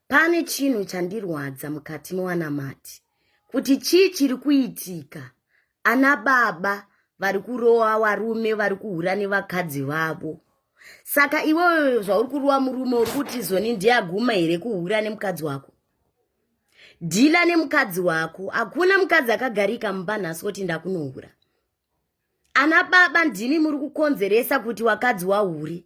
pane chinhu chandirwadza mukati mewanamati kuti chii chiri kuitika ana baba vari kurowa varume vari kuhura nevakadzi vavo saka iwewe zvauri kurowa murume uri kuti zoni ndiyaguma here kuhura nemukadzi wako dhila nemukadzi wako hakuna mukadzi akagarika mumba nhasi kuti ndakunohura ana baba ndimi muri kukonzeresa kuti wakadzi wahure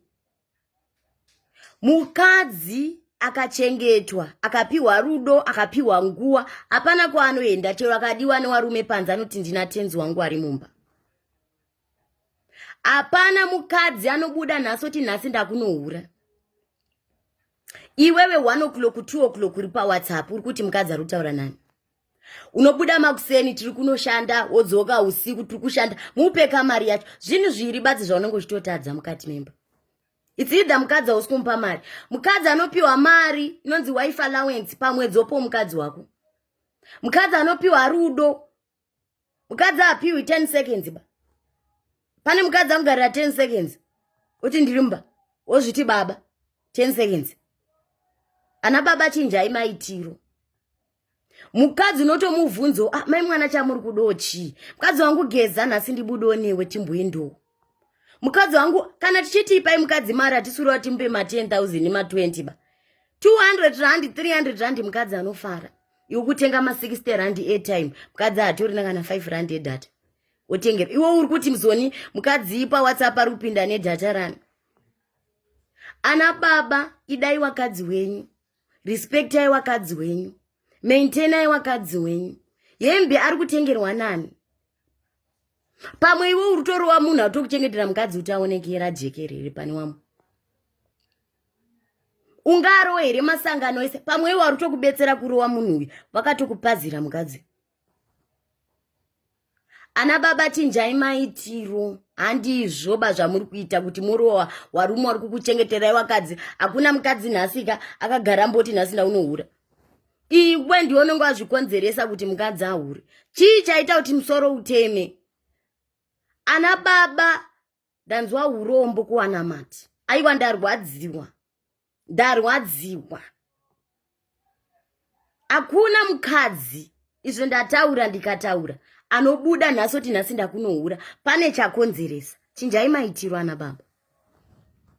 mukadzi akachengetwa akapiwa rudo akapiwa nguva hapana kwaanoenda chero akadiwa newarume panze anoti ndina tenzi wangu ari mumba hapana mukadzi anobuda nhasi oti nhasi ndakunohura iwewe one o'clock two o'clock uri pawhatsapp uri kuti mukadzi ari kutaura nani unobuda makuseni tiri kunoshanda wodzoka usiku tiri kushanda mupeka mari yacho zvinhu zviiri badzi zvaunenge uchitotadza mukati memba its either mukadzi hausi kumupa mari mukadzi anopiwa mari inonzi wife allowance pamwedzi opo mukadzi wako mukadzi anopiwa rudo mukadzi apiwi 10 seconds ba pane mukadzi amugarira 10 seconds uti ndiri mumba wozviti baba 10 seconds ana baba chinjai maitiro mukadzi unotomubvunzo ah, mai mwana chamuri kudo chii mukadzi wangu geza nhasi ndibudo newe timboendowo mukadzi wangu kana tichiti ipai mukadzi mari hatisuriwa timupe ma 10 000 ma 20 ba 200 rand 300 rand mukadzi anofara iwe kutenga ma 60 rand airtime mukadzi hatorina kana 5 rand edata otengera iwe uri kuti mzoni mukadzi ipa whatsapp ari kupinda nedata rani ana baba idai wakadzi wenyu respectai wakadzi wenyu maintainai wakadzi wenyu hembe ari kutengerwa nani pamwe iwe uri torova munhu atokuchengetera mukadzi kuti aonekera jekerere pane wamwe ungarowa here masangano ese pamwe iwe ari tokubetsera kurowa munhu uyu vakatokupazira mukadzi ana baba chinjai maitiro handizvoba zvamuri kuita kuti morowa warume wari kukuchengeterai wakadzi hakuna mukadzi nhasika akagara mboti nhasi ndaunohura iwe ndiwe unenge wazvikonzeresa kuti mukadzi ahure chii chaita kuti musoro uteme ana baba ndanzwa urombo kuwana mati aiwa ndarwadziwa ndarwadziwa hakuna mukadzi izvo ndataura ndikataura anobuda nhasi oti nhasi ndakunohura pane chakonzeresa chinjai maitiro ana baba